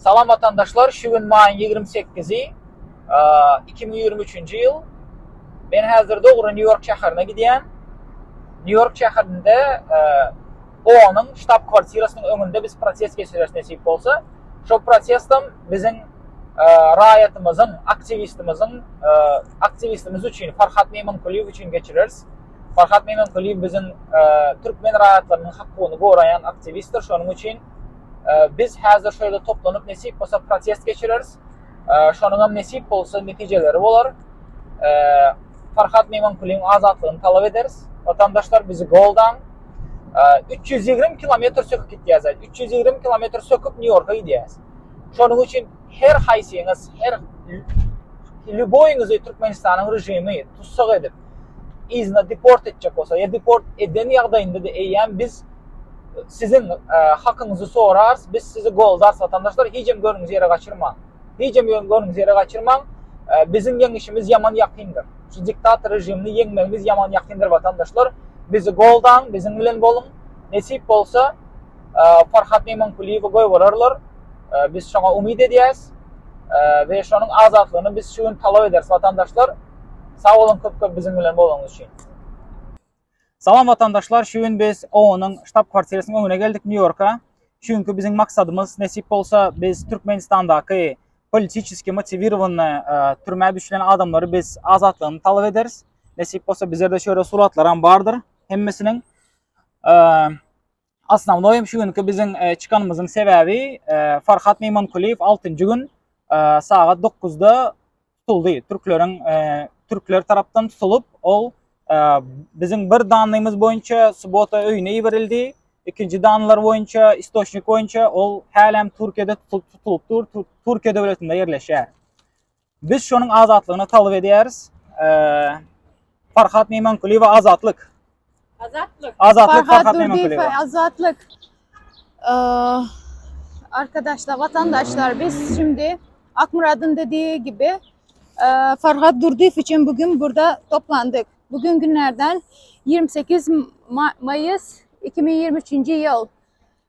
Salam watandaşlar şu gün maýyň ýigrimi sekizi iki müň ýigrimi üçünji ýyl men häzir dogry nýu ýork şäherine gidýän nýu ýork şäherinde oonyň ştab kwartirasynyň öňünde biz protest geçireris nesip bolsa şo protestam biziň raýatymyzyň aktiwistimiziň aktiwistimiz üçin farhat meýmankulyýew üçin geçireris Farhat Memenkuliýew biziň türkmen raýatlarynyň hakuny goraýan aktiwistdir, şonuň üçin biz häzir şu ýerde toplanyp nesip bolsa protest geçireris. Şonuňam nesip bolsa netijeleri bolar. Farhat Memenkuliýewiň azatlygyny talap ederis. Watandaşlar bizi goldaň. 320 kilometr söküp gitýäs, 320 kilometr söküp Nýu-Ýorka gidýäs. Şonuň üçin her haýsyňyz, her lýuboýyňyzy Türkmenistanyň režimi tussag edip, yzyna deport etjek bolsa ýa deport eden ýagdaýynda da eýýäm biz e, siziň e, hakyňyzy sorarys, biz sizi goldarys watandaşlar, hijem görüňiz ýere gaçyrmaň. Hijem görüňiz ýere gaçyrmaň. E, biziň ýeňişimiz ýaman ýakyndyr. Şu diktator režimini ýeňmegimiz ýaman ýakyndyr watandaşlar. Bizi goldaň, biziň bilen boluň. Nesip bolsa e, Farhat Neman Kuliýewi goýbererler. E, biz şoňa umyt edýäs. E, we şonuň azatlygyny biz şu gün talap ederis watandaşlar. Sag boluň köp köp biziň bilen bolanyňyz üçin. Salam watandaşlar şu gün biz OONyň ştab kwartirasynyň öňüne geldik New Yorka. Şu günki biziň maksadymyz nesip bolsa biz Türkmenistandaky politiçeski motiwirowany e, türmä düşülen adamlary biz azatlygyny talap ederis. Nesip bolsa bizlerde şöyle suratlar hem bardyr hemmesiniň. E, Osnownoý hem şu günki biziň çykanymyzyň sebäbi Farhat Meýmankulyýew altynjy gün sagat dokuzda tutuldy. Türkleriň türkler tarapdan tutulup, ol biziň bir danlymyz boýunça subota öýüne iberildi. Ikinji danlar boýunça, istoçnik boýunça ol hälem Türkiýede tutulup dur, Türkiýe döwletinde ýerleşýär. Biz şonuň azatlygyny talap edýäris. Farhat Meýmankulyýew azatlyk. Azatlyk. Azatlyk Farhat Meýmankulyýew. Azatlyk. Arkadaşlar, vatandaşlar biz şimdi Akmurad'ın dediği gibi Farhat Durdyyev için bugün burada toplandık. Bugün günlerden 28 Mayıs 2023 yıl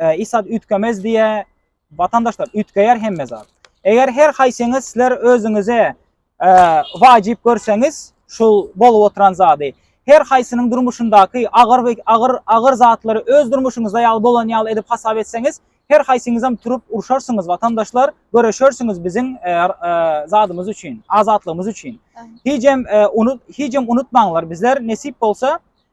e, isat ütkämez diye vatandaşlar ütkäýär hemme zat. Eger her haýsyňyz sizler özüňize e, wajyp görseňiz şu bolup oturan zady her haýsynyň durmuşyndaky agyr we agyr agyr zatlary öz durmuşyňyzda ýaly bolan ýaly edip hasap etseňiz her haýsyňyz hem turup urşarsyňyz vatandaşlar göreşersiňiz biziň e, e, zadymyz üçin azatlygymyz üçin hiç hem e, unut hiç hem unutmaňlar bizler nesip bolsa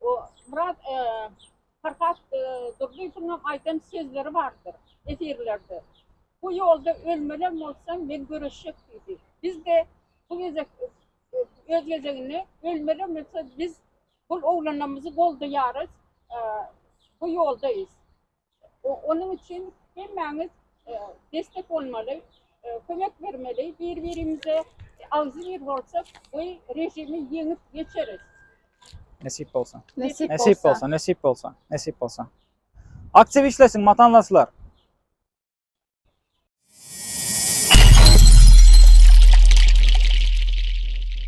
O Myrat Farhat Durdyýewiňem aýdan sözleri bardyr efirlerde. Bu ýolda ölmelem bolsam men göreşjek diýdi. Biz-de bu gezek öz gezeginde ölmelem bolsa biz bu oglanlarymyzy goldaýarys, bu ýoldaýys. Onuň üçin hemmäňiz destek bolmaly, kömek bermeli, bir-birimize agzybir bolsak, bu režimi ýeňip geçeris. Nesip bolsa. Nesip bolsa. Nesip bolsa, nesip bolsa, nesip bolsa. Aktiv işlesin matanlaslar.